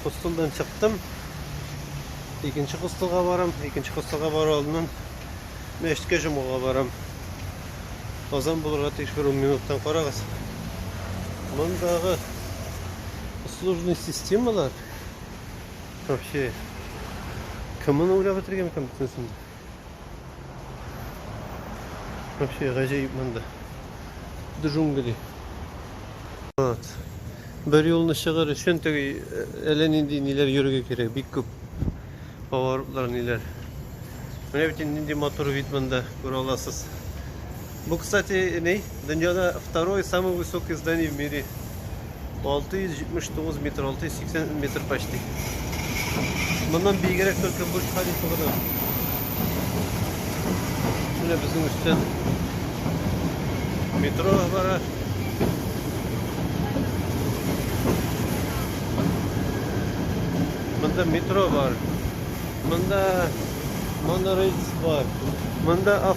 Хостелдан чыктым. Икенче хостелга барам. Икенче хостелга бару алдыннан мәчеткә җомгага барам. Азан булырга тиеш бер 10 минуттан карагыз. Мондагы услужный системалар вообще кемне уйлап бетергән икән бөтенесен? Вообще гаҗәеп монда. Джунгли. Вот. Бер юлны чыгыр өчен теге э, әллә нинди ниләр йөрергә кирәк, бик күп. Поворотлар ниләр. Менә бит инде нинди матур вид монда, күрә аласыз. Бу кстати ни? Дөньяда второе самое высокое здание в мире. 679 метр, 680 метр почти. Моннан биегрәк только Бурдж Халифа гына. Менә безнең өстән метро бара. Монда метро бар. Монда монорельс бар. Монда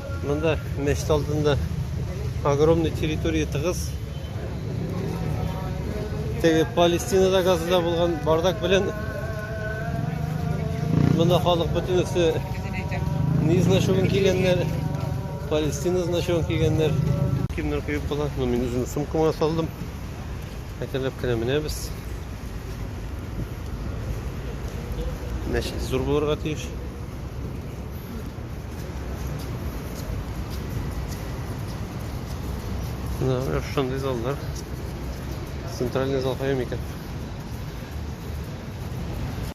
Монда мәчет алдында огромный территория тыгыз. Теге Палестинада газда булган бардак белән монда халык бөтенесе ни значуын кигәннәр, Палестина значуын кигәннәр. Кемнәр куеп була? Ну, мин үземнең сумкама салдым. Әкренләп кенә менәбез. Мәчет зур булырга тиеш. Да, я шундый заллар. Центральный зал кайым икән?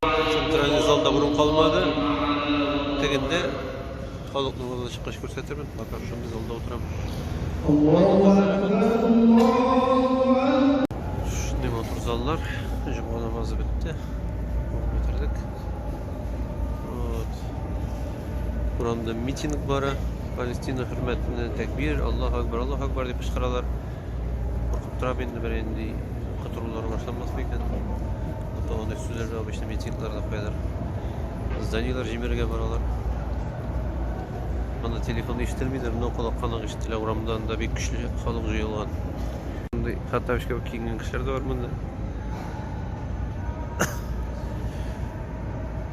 Центральный залда бурын калмады. Тегендә халыкның алдына чыккач күрсәтермен. Бакар шундый залда утырам. Шундый матур заллар. Җомга намазы бетте. Бетердек. Вот. Урамда митинг бара. Палестина хөрмәтенә тәкбир, Аллаһу акбар, Аллаһу акбар дип кычкыралар. Куркып торам инде бер инде котырулар башланмас микән? Ата аны сүзләргә обычно митингларда куялар. Зданиелар җимерергә баралар. Анда телефон ишетелмидер, но колакка нык ишетелә. Урамда анда бик көчле халык җыелган. Андый Хаттабич кебек киенгән кешеләр дә бар монда.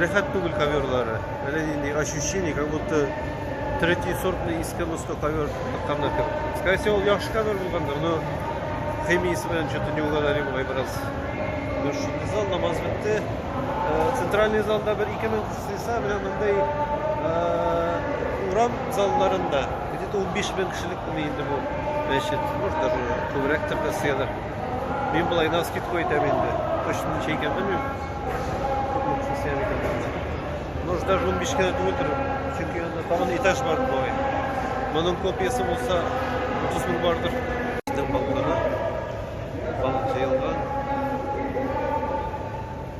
Рәхәт түгел коверлары. Әле нинди ощущение, как будто третий сортный иске мосто ковер тыкканнар кебек. Скорее всего, ул яхшы ковер булгандыр, но химиясе белән что-то не угадали бугай бераз. Шундый зал намаз бетте. Центральный залда бер ике минут сыйса, менә мондый урам залларында где-то 15 мең кешелек инде бу мәчет. Может даже күбрәктер дә сыялар. Мин болай на скидку әйтәм инде. Точно ничә икән белмим. Күпме төшә икән монда. Ну, уже даже 15 кенә түгелдер. Чөнки анда тагын этаж бар болай. Моның копиясе булса 30 мең бардыр. Балыклар. Балык җыелган.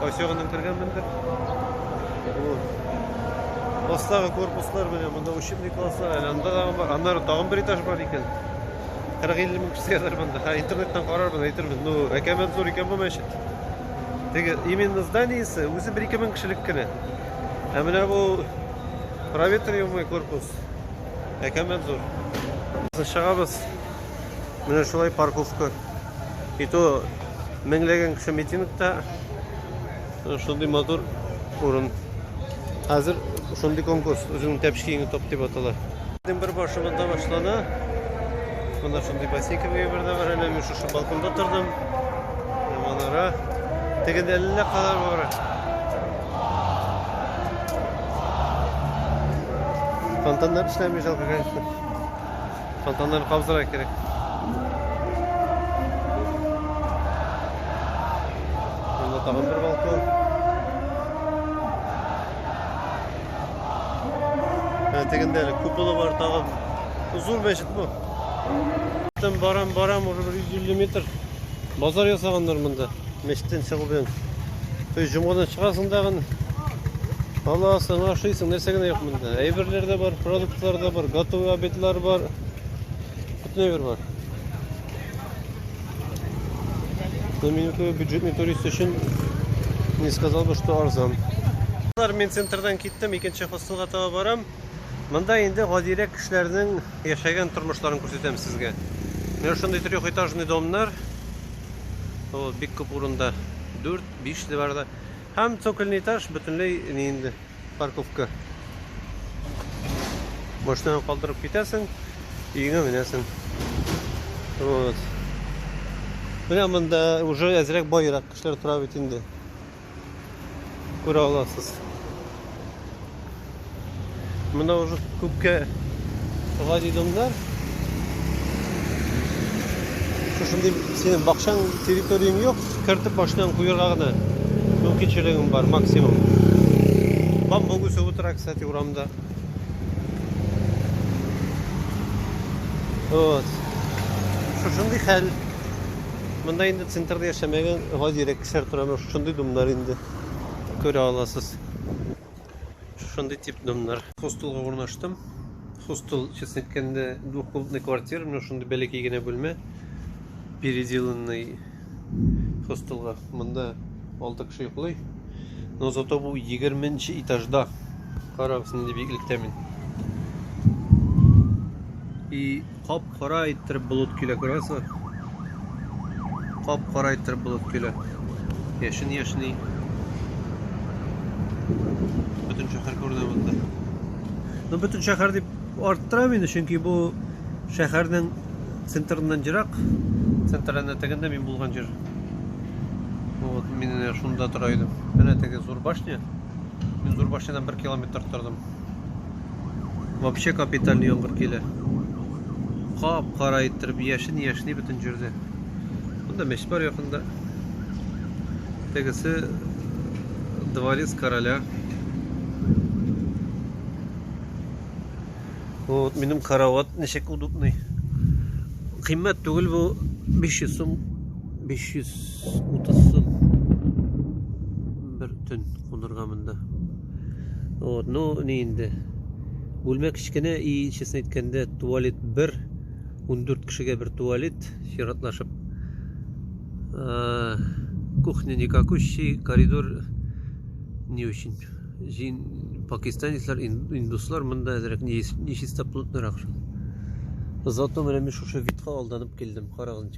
Кайсы ягыннан кергәнмендер. Астагы корпуслар менә монда учебный класслар, әле анда да бар. Аннары тагын бер этаж бар икән. 40-50 мең кеше ятар монда. Ха, интернеттан карарбыз, әйтербез. Ну, әкәмәт зур икән бу мәчет. Теге именно зданиесе үзе 1-2 мең кешелек кенә. Ә менә бу проветриваемый корпус әкәмәт зур. Чыгабыз. Менә шулай парковка. И то меңләгән кеше митингта шундый матур урын. Хәзер шундый конкурс үзеңнең тәпшкиеңне топ дип атала. Бер башымында башлана. Монда шундый бассейка бердә бар. Әнә мин шушы балконда тордым. Манара. Тегендә әллә калар бар. Фонтаннар эшләми жалко, конечно. Солтаннар кабызырга кирәк. Монда тагын бер балкон. Ә тегендә әле куполы бар тагын. Зур мәчет бу. Там барам, барам, уже 150 метр. Базар ясаганнар монда. Мәчеттән чыгу белән өй җомгадан чыгасың дагын. Аласың, ашыйсың, нәрсә генә юк монда. Әйберләр дә бар, продуктлар да бар, готовый обедлар бар. Бөтен әйбер бар. Но меню бюджетный турист өчен не сказал бы, что арзан. Мин центрдан киттем, икенче хостелга таба барам. Монда инде гадирәк кешеләрнең яшәгән тормышларын күрсәтәм сезгә. Менә шундый трехэтажный домнар. Ул бик күп урында 4-5 дә бар да. Һәм цокольный этаж бөтенләй ни инде парковка. Машинаны калдырып китәсең, өеңә менәсең. Вот. Менә монда уже әзрәк байрак кешеләр тора бит инде. күрә аласыз. Монда уже күпкә шулай ди домнар. Шушындый синең бакчаң территорияң юк, кертеп башынан куярга гына мөмкинчелегең бар максимум. Бамбук үсеп утыра, кстати, урамда. Вот. Шушындый хәл. Монда инде центрда яшәмәгән гадирәк Шәһәр тормышы шундый домнар инде. Күрә аласыз. Шундый тип домнар. Хостелга урнаштым. Хостел, честно әйткәндә, двухкомнатный квартира, менә шундый бәләкәй генә бүлмә. Переделанный хостелга. Монда 6 кеше йоклый. Но зато бу 20 нче этажда. Карагыз, нинди биеклектә мин. И Кап-кара иттереп болыт килә, күрәсезме? Кап-кара иттереп болыт килә. Яшен яшни. Бөтен шәһәр күренә монда. Ну, бөтен шәһәр дип арттырам инде, чөнки бу шәһәрнең центрыннан ерак. Центрына тегендә мин булган җир. Вот, мин шунда тора идем. Менә теге зур башня. Мин зур башнядан 1 километр тордым. Вообще капитальный яңгыр килә. Кап-кара иттереп яшен-яшни бөтен җирне. Монда мәчет бар якында. Тегесе дворец короля. Вот минем карават ничек удобный. Кыйммәт түгел бу 500 сум 530 сум бер төн кунырга монда. Вот, ну, не инде. Бүлмә кечкенә и, честно әйткәндә, туалет бер, 14 кешегә бер туалет, чиратлашып. Э, кухня никакущий, коридор не очень. Жин, пакистанецлар, индуслар монда әзрәк нечистоплотныйрак шул. Зато менә мин шушы витка алданып килдем, карагыз.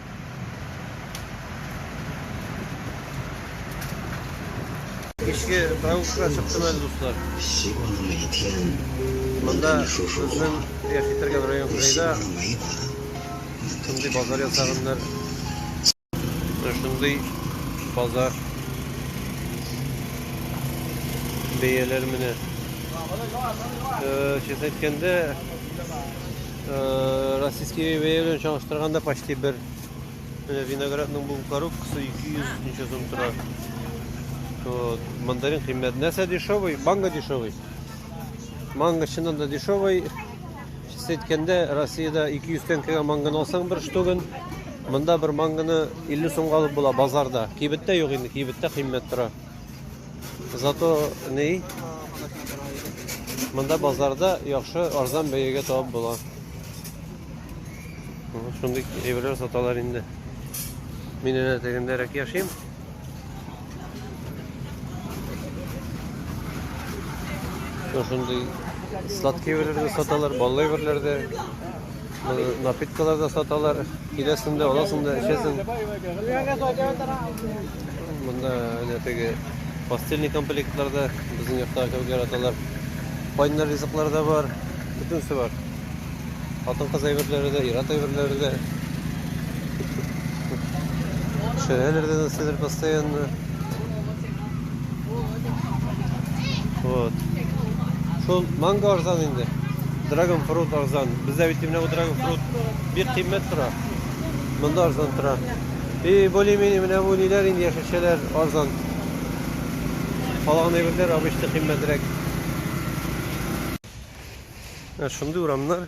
Кичке прогулка чыктым әле, дуслар. Монда безнең яши торган район кырыйда шундый базар ясаганнар. Шундый базар. Бәяләр менә. Честно әйткәндә, Российский бәя белән чагыштырганда почти бер. Менә виноградның бу коробкасы 200 ничә сум тора. Вот. Мандарин кыйммәт. Нәрсә дешевый? Манго дешевый. Манго чыннан да дешевый. Чиста әйткәндә, Россиядә 200 тәңкәгә мангоны алсаң бер штугын, монда бер мангоны 50 сумга алып була базарда. Кибеттә юк инде, кибеттә кыйммәт тора. Зато ни? Монда базарда яхшы арзан бәягә табып була. Шундый әйберләр саталар инде. Мин әнә тегендәрәк яшим. Шундый сладкий әйберләр саталар, баллы әйберләр дә. Напиткалар да саталар. Киләсең дә, аласың да, эчәсең. Монда әнә теге постельный комплектлар да безнең якта кебек яраталар. Кайнар ризыклар да бар. Бөтенесе бар. Хатын-кыз әйберләре дә, ир-ат әйберләре дә. Шәһәрләрдә нәрсәдер постоянно Вот. Шул манго арзан инде. Dragon fruit арзан. Бездә бит именно dragon fruit бик кыйммәт тора. Монда арзан тора. И более-менее менә бу ниләр инде яшелчәләр арзан. Калган әйберләр обычно кыйммәтрәк. Ә шундый урамнар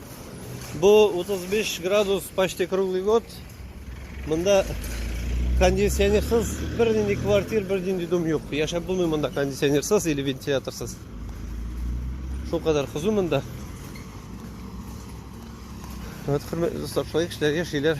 Бу 35 градус почти круглый год. Монда кондиционерсыз бернинди квартир, бернинди дом юк. Яшәп булмый монда кондиционерсыз или вентиляторсыз. Шул кадәр кызу монда. Вот, хөрмәтле достар, шулай кешеләр яшиләр.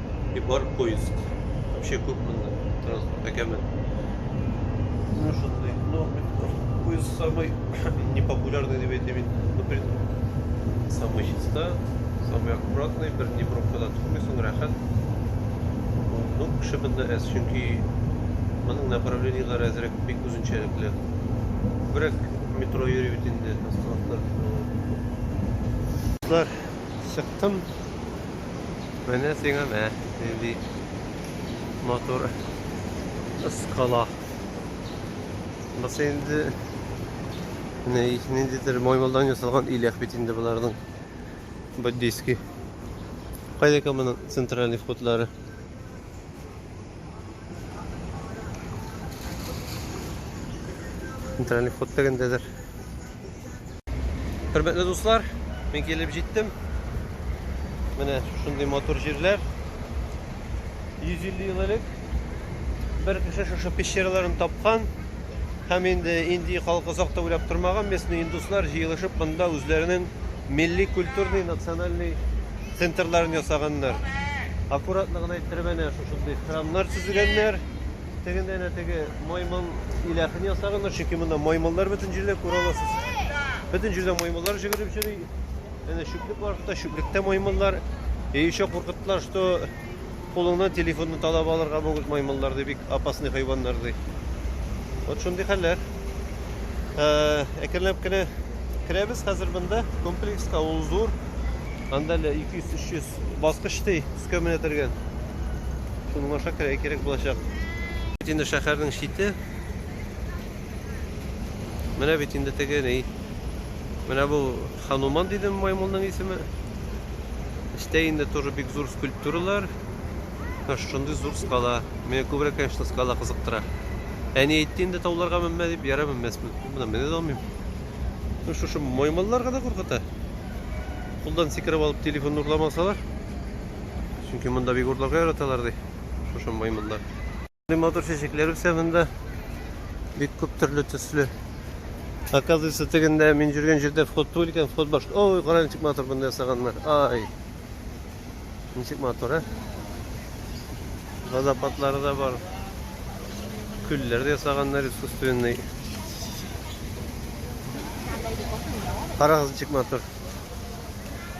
и бар поиск. Вообще күп монда транспорт әкәмен. Ну что ты, ну поиск самый непопулярный дип әйтәм инде. Ну, блин, самый чиста, самый аккуратный, бер ни пробкада тормыйсың, рәхәт. Ну, кеше монда әз, чөнки моның направлениеләре әзрәк бик үзенчәлекле. Бирәк метро йөри бит инде, оставлар. Чыктым. Менә сиңа мә, нинди матур скала. Басы инде ниндидер маймылдан ясалган иләк бит инде боларның. Буддийский. Кайда икән моның центральный входлары? Центральный вход дигәндәдер. Хөрмәтле дуслар, мин килеп җиттем. Менә шундый матур җирләр. 150 ел элек бер кеше шушы пещераларын тапкан һәм инде инди халкы озак та уйлап тормаган местный индуслар җыелышып монда үзләренең милли культурный национальный центрларын ясаганнар. Аккуратлыгын әйттереп әнә шушындый храмнар төзегәннәр. Тегендә әнә теге маймыл иләхен ясаганнар, чөнки монда маймыллар бөтен җирдә күрә аласыз. Бөтен җирдә маймыллар җөгереп йөри. Әнә чүплек бар хәтта, чүплектә маймыллар. И еще куркыттылар, что кулыңнан телефонны талап алырга могут маймыллар, ди, бик опасный хайваннар, ди. Вот шундый хәлләр. Э, әкренләп кенә керәбез хәзер монда комплекска, ул зур. Анда 200-300 баскыч ди, Кәмә тергән. Шуның аша керә кирәк булачак. Бит инде шәһәрнең чите. Менә бит инде теге ни. Менә бу Хануман дидем маймылның исеме. Эчтә инде тоже бик зур скульптуралар. Менә шундый зур скала. Мені күбрәк, конечно, скала кызыктыра. Әни әйтте инде тауларга менмә дип, ярар менмәсмен. Менә менә алмыйм. Ну шушы маймыллар гына куркыта. Кулдан сикереп алып телефонны урламасалар. Чөнки монда бик урларга яраталар ди. Шушы маймыллар. Матур чәчәкләр үсә монда. Бик күп төрле төсле. Оказывается, тегендә мин жүргән җирдә вход түгел икән, вход башка. Ой, караң ничек матур монда ясаганнар. Ай. Ничек матур, ә? Водопадлары да бар. Күлләр дә ясаганнар искусственный. Карагыз ничек матур.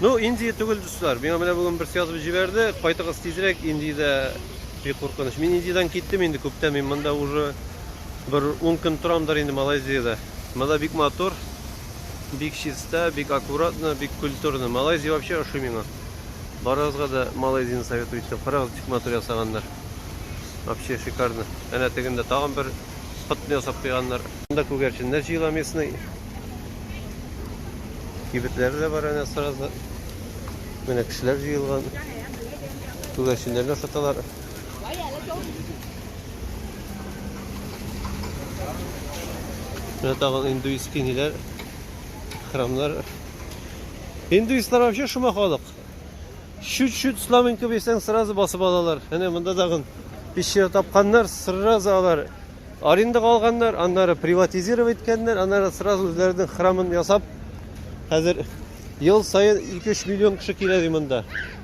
Ну, Индия түгел, дуслар. Миңа менә бүген берсе язып җибәрде. Кайтыгыз тизрәк, Индиядә бик куркыныч. Мин Индиядән киттем инде күптән. Мин монда уже бер 10 көн торамдыр инде Малайзиядә. Монда бик матур. Бик чиста, бик аккуратно, бик культурно. Малайзия вообще ошый миңа. Барыгызга да Малайзияне советую итәм. Карагыз, ничек матур ясаганнар. Вообще шикарно. Әнә тегендә тагын бер котны ясап куйганнар. Монда күгәрченнәр җыела местный. Кибетләре дә бар әнә сразу. Менә кешеләр җыелган. Күгәрченнәрне ашаталар. Менә тагын индуист киниләр, храмнар. Индуистлар вообще шума халык. Чуть-чуть слабенько бирсәң, сразу басып алалар. Әнә монда тагын пещера тапканнар, сразу алар арендага алганнар, аннары приватизировать иткәннәр, аннары сразу үзләренең храмын ясап, хәзер ел саен 2-3 миллион кеше килә ди монда.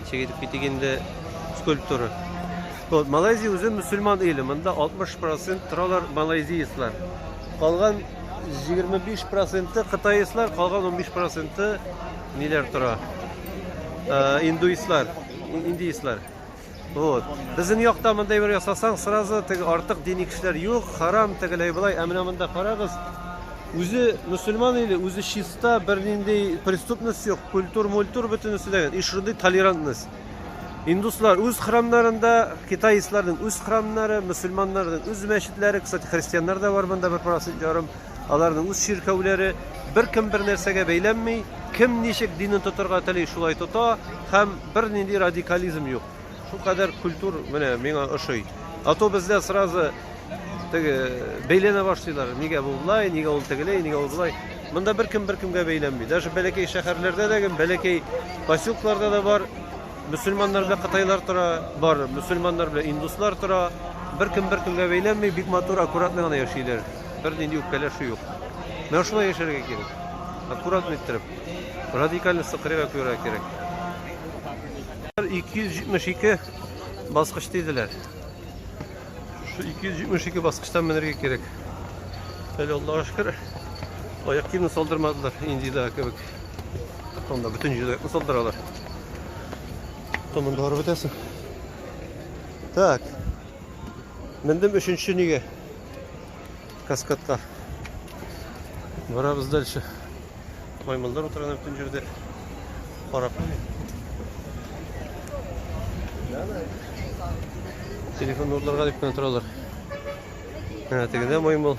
Ничек итеп китик инде скульптура. Вот, Малайзия үзе мусульман иле. Монда 60% торалар малайзияслар. Калган 25% кытаислар, калган 15% ниләр тора? Э, индуислар, индийслар. Вот. Безнең якта мондай бер ясасаң, сразу теге артык дини кешеләр юк, харам тегеләй былай, ә менә монда карагыз. Үзе мусульман или үзе чиста, бернинди преступность юк, культур, мультур бөтенесе дә. И шундый толерантность. Индуслар үз храмнарында, китайцларның үз храмнары, мусульманнарның үз мәчетләре, кстати, христианнар да бар монда бер процент ярым. Аларның үз чиркәүләре, беркем бер нәрсәгә бәйләнми, кем ничек динен тотарга тели, шулай тота һәм бернинди радикализм юк. Шул кадәр культур менә миңа ошый. А то бездә сразу теге бәйләнә башлыйлар. Нигә бу болай, нигә ул тегеләй, нигә ул болай. Монда беркем беркемгә бәйләнми. Даже бәләкәй шәһәрләрдә дә, бәләкәй поселкларда да бар мусульманнар белән кытайлар тора, бар мусульманнар белән индуслар тора. Беркем беркемгә бәйләнми, бик матур, аккуратно гына яшиләр. Бернинди үпкәләшү юк. Менә шулай яшәргә кирәк. Аккуратно иттереп. Радикаль сыкрыга күрә кирәк. 272 баскыч диделәр. Şu 272 баскычтан менергә кирәк. Әле Аллаһу шөкер, аяк киемне салдырмадылар, Индиядә кебек. Анда бөтен җирдә салдыралар. Томында барып бетәсең. Так. Мендем өченче нигә? Каскадка. Барабыз дальше. Маймылдар утырган бөтен җирдә. Карап. Телефон урларга дип кенә торалар. Менә тегендә маймыл.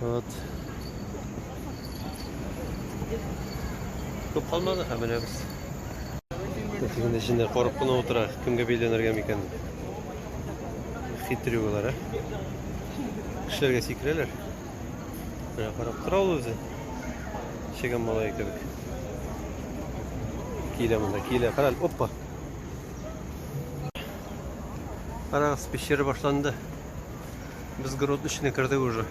Вот. Күп калмады, һәм менәбез. Нәфисен эчендә корып кына утыра, кемгә бәйләнергә микән дип. Хитрю болар, ә? Кешеләргә сикерәләр. Менә карап тора ул үзе. Чегән малай кебек. Килә монда, килә, карал, оппа. Карагыз, пещера башланды. Без город эченә кердек уже.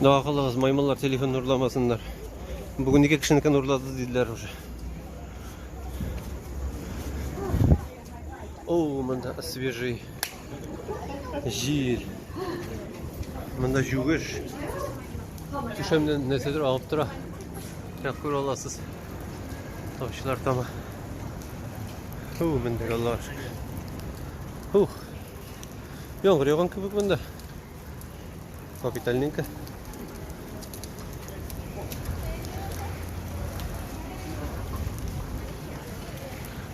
Дага кылыгыз, маймыллар телефон урламасыннар. Бүген ике кешенекен урлады диделәр уже. О, монда свежий җир. Монда җүгеш. Түшәмнән нәрсәдер агып тора. Тәкъкүр аласыз. Тавчылар тама. Ху, мендек Аллаһ шөкер. Ху. Яңгыр яуган кебек монда. Капитальненько.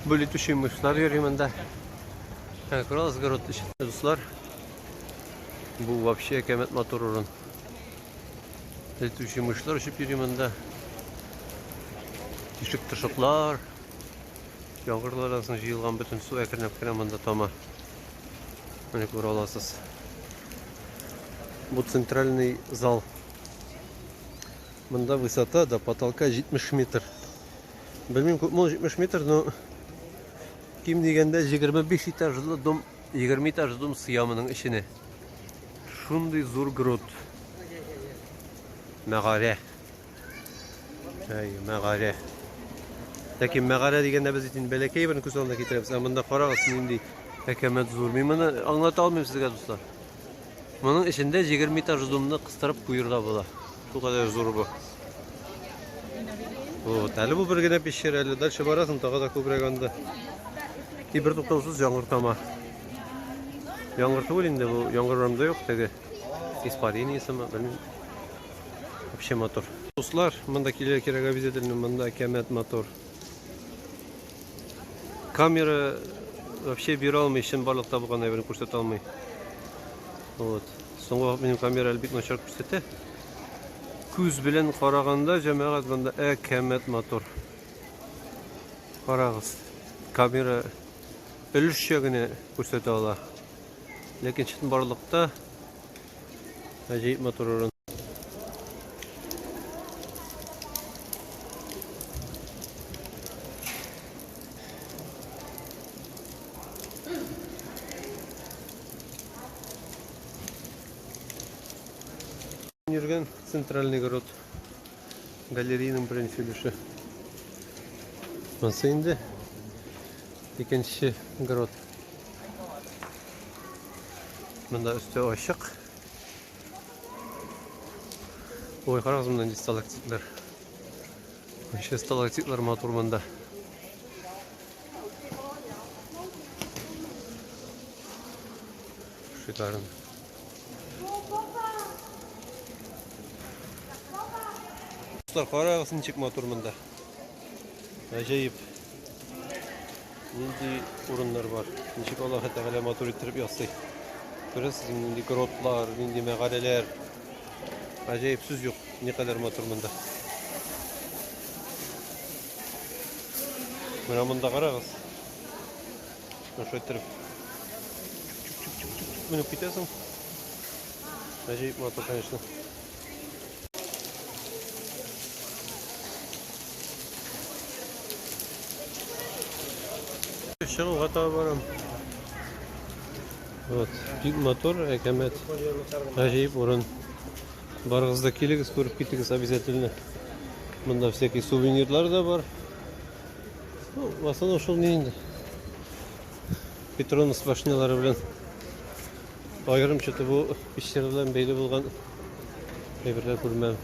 Бүлетүче мышлар йөри монда. Ә, күрәсез, город эчендә, дуслар. Бу вообще әкәмәт матур урын. Әйтүче мышлар өчеп йөри монда. Тишек тышыклар. Яңгырлар арасында җыелган бөтен су әкренләп кенә монда тама. Менә күрә аласыз. Бу центральный зал. Монда высота до потолка 70 метр. Белмим, күпме ул 70 метр, но ким дигәндә 25 этажлы дом, 20 этажлы дом сыя моның эченә. Шундый зур груд. Мәгарә. Әй, мәгарә. Ләкин мәгарә дигәндә без инде бәләкәй бер күз алдына китерәбез. Ә монда карагыз, нинди әкәмәт зур. Мин моны аңлата алмыйм сезгә, дуслар. Моның эчендә 20 этаж зумны кыстырып куерга була. Бу кадәр зур бу. Вот, әле бу бер генә пещера, әле дальше барасың, тагы да күбрәк анда. И бер туктаусыз яңгыр тама. Яңгыр түгел инде бу, яңгыр урамда юк теге. Испарениясеме, белмим. Вообще мотор. Дуслар, монда килер кирәк обязательно, монда кәмәт мотор. Камера вообще бир алмый, чын барлык табылган әйберне күрсәтә алмый. Вот. Соңгы вакыт минем камера әле бик начар күрсәтә. Күз белән караганда, җәмәгать монда ә кәмәт мотор. Карагыз. Камера өлешчә генә күрсәтә ала. Ләкин чынбарлыкта гаҗәеп матур урын. Йөргән центральный город Галереянең беренче өлеше. Монсы инде икенче грот. Монда өсте ачык. Ой, карагыз монда сталактитлар. Ничә сталактитлар матур монда. Шикарен. Dostlar karagız nичек матур монда. Гаҗәеп. Нинди урыннар бар. Ничек Аллаһы Тәгалә матур иттереп ясый. Күрәсез, нинди гротлар, нинди мәгарәләр. Гаҗәеп сүз юк. Никадәр матур монда. Менә монда карагыз. Шуны шулай иттереп. Чүк-чүк-чүк-чүк-чүк менеп китәсең. Гаҗәеп матур, конечно. Чыгуга таба барам. Вот, бик матур, әкәмәт. Гаҗәеп урын. Барыгыз да килегез, күреп китегез обязательно. Монда всякие сувенирлар да бар. Ну, в основном шул мин инде. Петронус башнялары белән аерымча бу пещера белән бәйле булган әйберләр күрмәм.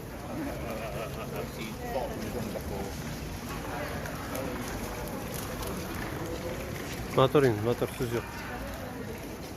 Мотор инде, мотор сүз юк.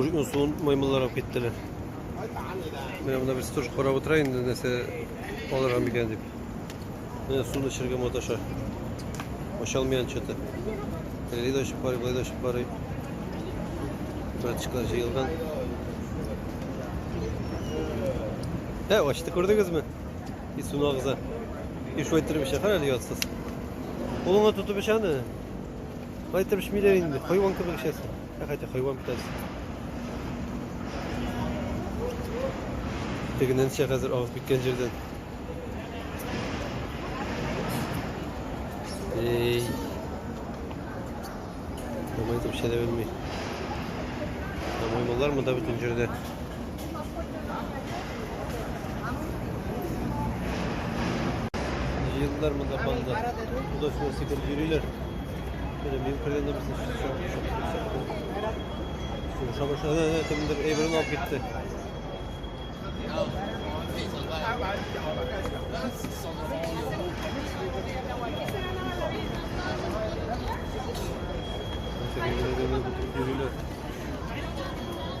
Узун маймыллар алып киттеләр. Менә монда без тоже карап утыра инде нәрсә алырга микән дип. Менә суны эчәргә маташа. Ачалмыйан чаты. Әле дә ачып карый, былай да ачып карый. Братчиклар җыелган. Ә, ачты күрдегезме? И суны агыза. И шулай иттереп эчә, кара әле ятсыз. Кулыңа тотып эчәне. Кайтып эчмиләр инде, хайван кебек эчәсең. Ә хәтта хайван битәсең. Тегеннән чә хәзер агып киткән җирдән. Эй. Тамай итеп эчә дә белми. Тамай монда бөтен җирдә. Җыелдылар монда фанда. Куда сюда сикер йөриләр. Менә мин кергәндә без Сугыша башлады. Әнә кемдер әйберен алып китте. Thank you.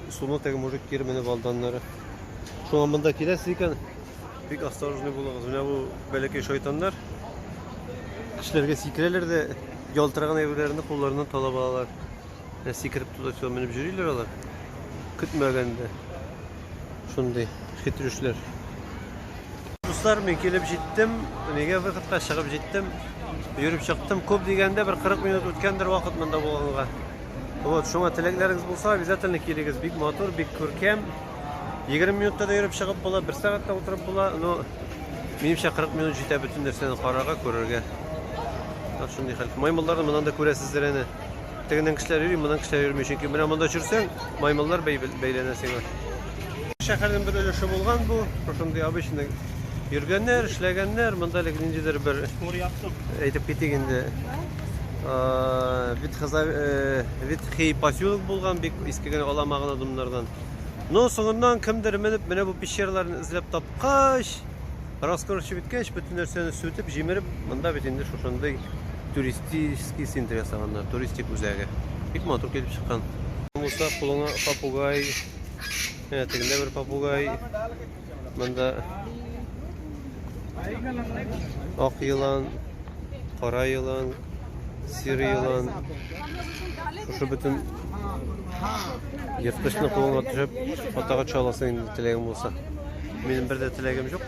Суны теге мужик кире менеп алды аннары. Шуңа монда киләсез икән, бик осторожный булыгыз. Менә бу бәләкәй шайтаннар кешеләргә сикерәләр дә ялтыраган әйберләрне кулларыннан талап алалар. Ә сикереп туда-сюда менеп йөриләр алар. Көтмәгәндә. Шундый хитрүшләр. Дуслар, мин килеп җиттем. Нигә выходка чыгып җиттем. Йөреп чыктым. Күп дигәндә бер 40 минут үткәндер вакыт монда булганга. Вот, шуңа теләкләрегез булса, обязательно килегез. Бик матур, бик күркәм. 20 минутта да йөреп чыгып була, 1 сәгатьтә утырып була, но минемчә 40 минут җитә бөтен нәрсәне карарга, күрергә. Так шундый хәл. Маймылларны моннан да күрәсездер әнә. Тегеннән кешеләр йөри, моннан кешеләр йөрми, чөнки менә монда чүрсәң, маймыллар бәйләнә сиңа. Шәһәрнең бер өлеше булган бу, шундый обычный йөргәннәр, эшләгәннәр, монда әле ниндидер бер Әйтеп китик инде. Ветхий поселок булган, бик иске генә алама гына домнардан. Но соңыннан кемдер менеп, менә бу пещерларны эзләп тапкач, раскорчып иткәч, бөтен нәрсәне сүтеп, җимереп, монда бит инде шушындый туристический центр ясаганнар, туристик үзәге. Бик матур килеп чыккан. Булса, кулыңа попугай, тегендә бер попугай. Монда ак елан, кара елан, сир елан. Шушы бөтен ерткычны кулыңа төшеп, атага төшә аласың инде теләгең булса. Минем бер дә теләгем юк.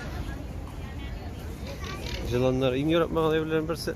Җыланнар иң яратмаган әйберләрнең берсе.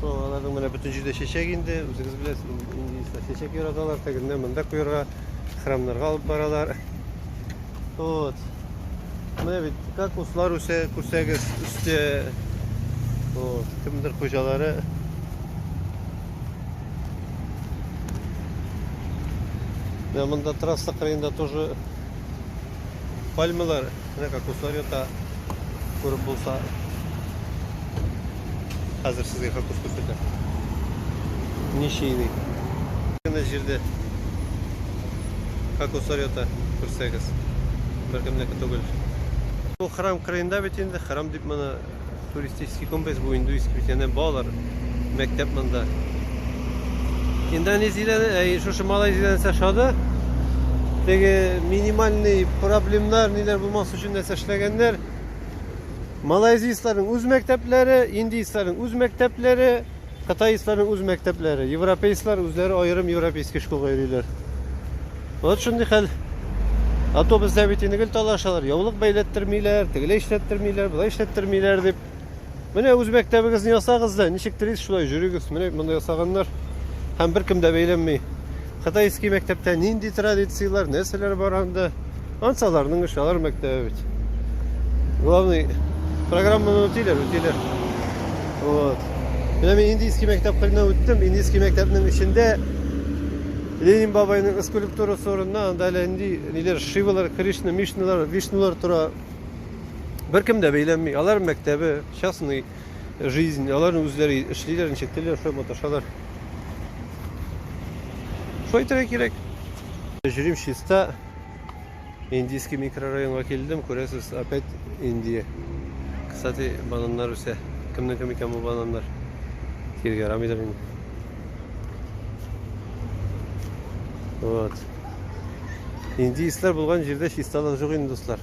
Шул аларның менә бөтен җирдә чәчәк инде, үзегез беләсез, индеецлар чәчәк яраталар, тегеннән монда куярга, храмнарга алып баралар. Вот. Менә бит как услар үсә, күрсәгез, үсте. Вот, кемдер хуҗалары. Менә монда трасса кырыенда тоже Пальмалар не как усорията күреп булса. Хәзер сезгә хакус күрсәтә. Ничейный. Менә җирдә как усорията күрсәгез. Беркемнеке түгел. Бу храм кырыенда бит инде, храм дип моны Туристический комплекс бу индуистский бит янә балалар мәктәп монда. Индонезиядән, әй, шушы Малайзиядән нәрсә шады? Теге минимальный проблемнар ниләр булмас өчен нәрсә эшләгәннәр? Малайзияләрнең үз мәктәпләре, индийцларның үз мәктәпләре, Кытаистларның үз мәктәпләре. Европейслар үзләре аерым европейский школга йөриләр. Вот шундый хәл. Автобуста бит инде гел талашалар. Яулык бәйләттермиләр, тегеләй эшләттермиләр, болай эшләттермиләр дип. Менә үз мәктәбегезне ясагыз да, ничек телисез шулай йөрегез. Менә монда ясаганнар. Һәм беркем дә бәйләнми. Кытайский мәктәптә нинди традицияләр, нәрсәләр бар анда? Ансы аларның эше, алар мәктәбе бит. Главный программаны үтиләр, үтиләр. Вот. Менә мин индийский мәктәп кырына үттем. Индийский мәктәпнең эчендә Ленин бабайның скульптурасы урынына анда әле инди ниләр Шивалар, Кришна, Мишналар, Вишнулар тора. Беркем дә бәйләнми. Алар мәктәбе, частный. жизнь. Алар үзләре эшлиләр, ничек телиләр, шулай маташалар. Шулай итәргә кирәк. Җөрим чиста. Индийский микрорайонга килдем, күрәсез, опять Индия. Кстати, бананнар үсә. Кемнең кем икән бу бананнар? Киргә ярамыйдыр инде. Вот. Индийцлар булган җирдә чисталык юк инде, дуслар.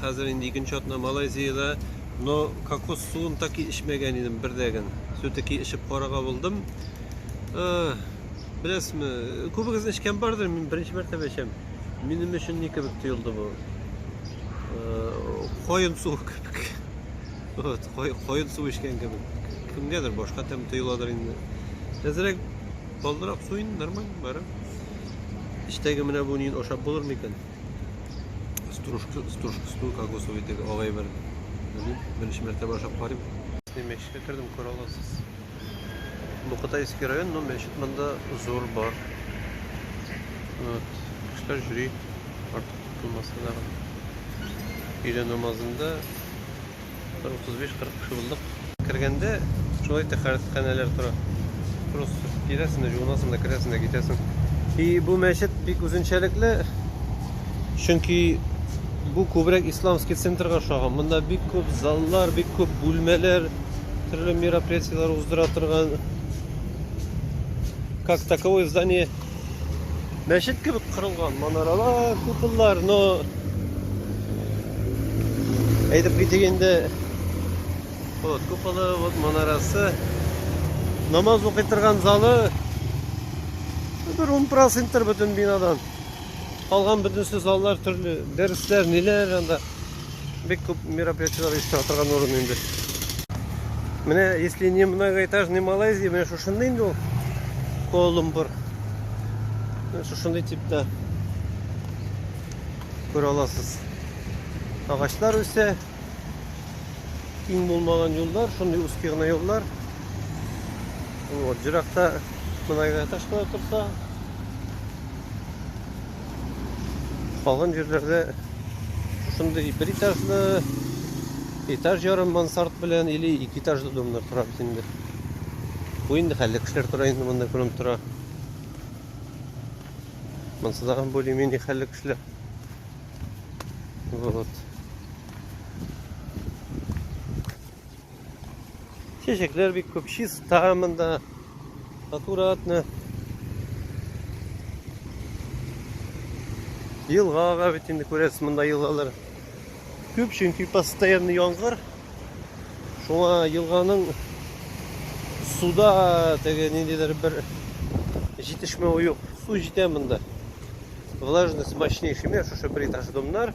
Хәзер инде икенче атна Малайзиядә. Но кокос суын таки эчмәгән идем бердәген. Сүтеки эчеп карага булдым. Беләсме, күбегез эчкән бардыр, мин беренче мәртәбә эчәм. Минем өчен ни кебек тоелды бу? Кайын суы кебек. Вот, кайын суы эчкән кебек. Кемгәдер башка тәм тоеладыр инде. Әзрәк балдырак суын нормально бара. Эчтәге менә бу нин ашап булыр микән? стружка стружкасын кокосовый итеп алай бер белмим беренче мәртәбә ашап карыйм мәчеткә кердем күрә аласыз бу кытайский район но мәчет монда зур бар вот кешеләр йөри артык тотылмаса да өйлә намазында Бер 35-40 кеше булдык. Кергәндә шулай тәхәрәтханәләр тора. Просто киләсең дә, җуынасың да, керәсең дә, китәсең. И бу мәчет бик үзенчәлекле. Чөнки бу күбрәк исламский центрга ошаган. Монда бик күп заллар, бик күп бүлмәләр, төрле мероприятиеләр уздыра торган. Как таковое здание Мәчет кебек кырылган манаралар, куполлар, но әйтеп китик инде. Вот куполы, вот манарасы. Намаз укый торган залы бер 10% бөтен бинадан. Калган бөтенесе заллар төрле, дәресләр, ниләр анда. Бик күп мероприятиеләр оештыра торган урын инде. Менә если не многоэтажный Малайзия, менә шушында инде ул Колумбур. Шушында типта күрә аласыз. Агачлар үсә. Киң булмаган юллар, шундый узкий гына юллар. Вот, җыракта многоэтаж кына торса, калган җирләрдә Шушындый бер этажлы, этаж ярым мансард белән или ике этажлы домнар тора бит инде. Бу инде хәлле кешеләр тора инде монда күренеп тора. Монсы да более-менее хәлле кешеләр. Вот. Чәчәкләр бик күп, чиста монда. Аккуратно. Елга ага бит инде күрәсез монда елгалар. Күп чөнки постоянно яңгыр. Шуңа елганың суда теге ниндидер бер җитешмәве юк. Су җитә монда. Влажность мощнейший. Менә шушы бер этаж домнар.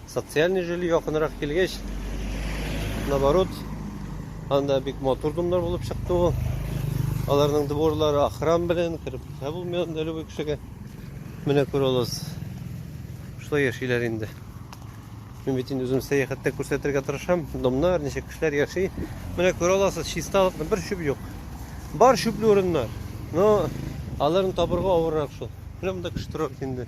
Социальный жиль якынрак килгәч, наоборот, анда бик матур домнар булып чыкты ул. Аларның дворлары охран белән кереп китә булмый анда любой кешегә. Менә күрә аласыз. Шулай яшиләр инде. Мин бит инде үзем сәяхәттә күрсәтергә тырышам. Домнар, ничек кешеләр яши. Менә күрә аласыз, чисталыкны бер чүп юк. Бар чүпле урыннар. Но аларны табырга авыррак шул. Менә монда кеше тора бит инде.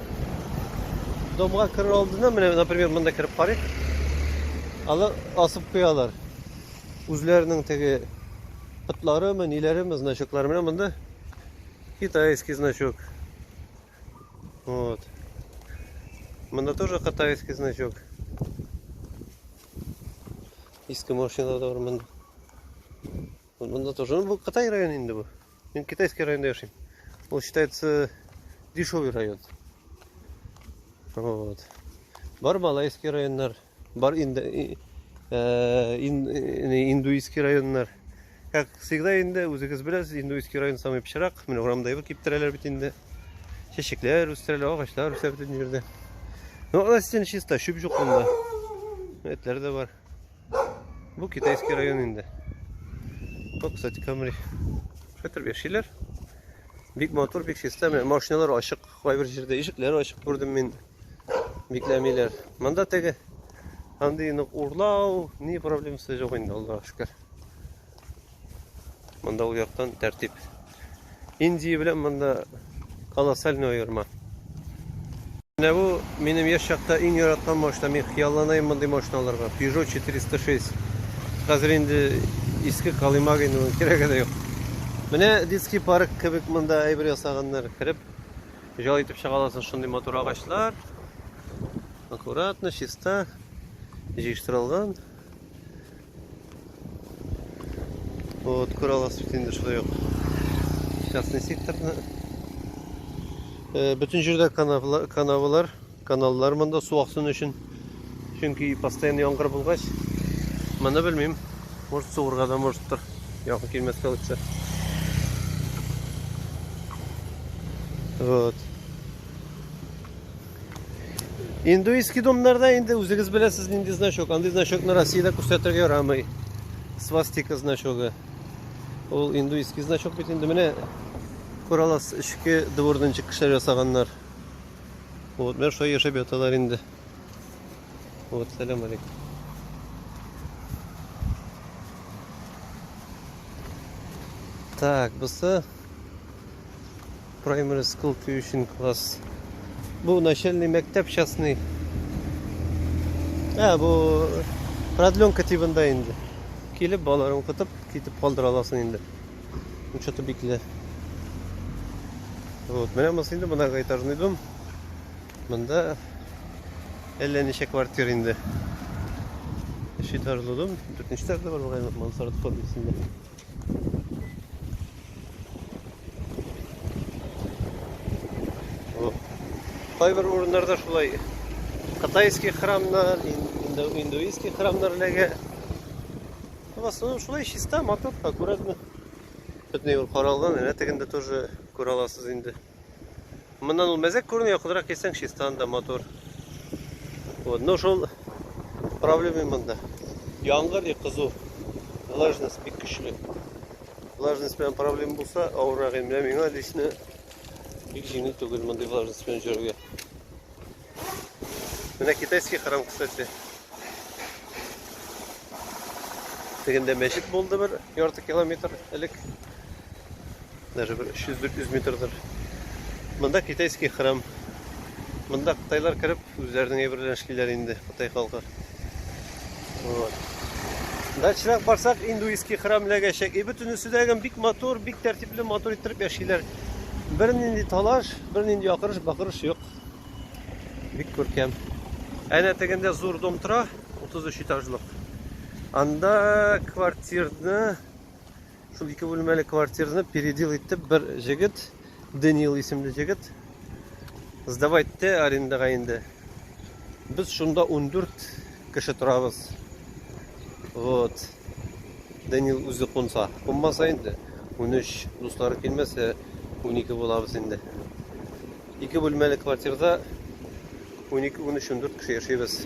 Домга керер алдыннан менә, например, монда кереп карыйк. Алар асып куялар. Үзләренең теге пытларымы, ниләреме, значоклары менә монда. Китайский значок. Вот. Монда тоже китайский значок. Иске машина да бар монда. Монда тоже. Ну, бу Кытай районы инде бу. Мин китайский районда яшим. Ул считается дешевый район. Вот. Бар малайский районнар, бар инда, э, ин, э, индуистский районнар. Как всегда инде, үзегез беләсез, индуистский район самый пычрак. Менә урамда ебер киптерәләр бит инде. Чәчәкләр үстерәләр, агачлар үсә бит инде. Ну, а чисто, чүп юк монда. Этләр дә бар. Бу китайский район инде. Бу, кстати, Камри. Хәтер яшиләр. Бик матур, бик чиста. Менә машиналар ачык. Кайбер җирдә ишекләр ачык күрдем мин. Бикләмиләр. Монда теге андый нык урлау, ни проблемасы юк инде, Аллаһка шөкер. Монда ул яктан тәртип. Индия белән монда колоссальный аерма. Менә бу минем яшь чакта иң яраткан машина. Мин хыялланайм мондый машина алырга. Peugeot 406. Хәзер инде иске Калимагин уның кирәге дә юк. Менә детский парк кебек монда әйбер ясаганнар. Кереп җал итеп чыга аласың шундый матур агачлар. Аккуратно, чиста, җыештырылган. Вот курала светинде шулай ук. Частный секторны. Бөтен җирдә канавлар, каналлар монда су аксын өчен. Чөнки постоянно яңгыр булгач, моны белмим. Может суырга да может тор. Якын килмәскә үтсә. Вот. Индуистский домнарда инде үзегез беләсез нинди значок. Андый значокны Россиядә күрсәтергә ярамый. Свастика значогы. Ул индуистский значок бит инде менә күралас эчке двордан чыккычлар ясаганнар. Вот, менә шулай яшәп яталар инде. Вот, сәлам алейкум. Так, бусы Primary school tuition class. Бу начальный мәктәп частный. Ә, бу продленка тибында инде. Килеп, балаларын укытып, китеп калдыра аласың инде. Учеты бикле. Вот, менә монысы инде монага этажный дом. Монда әллә ничә квартира инде. Өч этажлы дом, дүртенче этажда бар, мансард формасында. Кайбер урыннарда шулай кытайский храмнар, индуистский храмнар эләгә. В основном шулай чиста, матур, аккуратно. Бөтен юл каралган, әнә тегендә тоже күраласыз инде. Моннан ул мәзәк күренә, якынрак килсәң, чистан да матур. Вот, но шул проблема монда. Яңгыр и кызу. Влажность бик көчле. Влажность белән проблема булса, авыррак инде. Менә миңа лично бик җиңел түгел мондый влажность белән йөрергә. Менә китайский храм, кстати. Тегендә мәчет булды бер ярты километр элек. Даже бер 300-400 метрдыр. Монда китайский храм. Монда кытайлар кереп, үзләренең әйберләрен эшлиләр инде, кытай халкы. Вот. Дачрак барсак, индуистский храм ләгәчәк. И бөтенесе дә бик матур, бик тәртипле, матур иттереп яшиләр. Бернинди талаш, бернинди якырыш, бакырыш юк. Бик күркәм. Әнә тегендә зур дом тора, 33 этажлык. Анда квартирны, шул ике бүлмәле квартирны передел итеп бер җегет, Даниил исемле җегет, сдавать те арендага инде. Без шунда 14 кеше торабыз. Вот. Данил үзе кунса, кунмаса инде, унөч, дуслары килмәсә, унике булабыз инде. Ике бүлмәле квартирда унике, унөч, ундүрт кеше яшибез.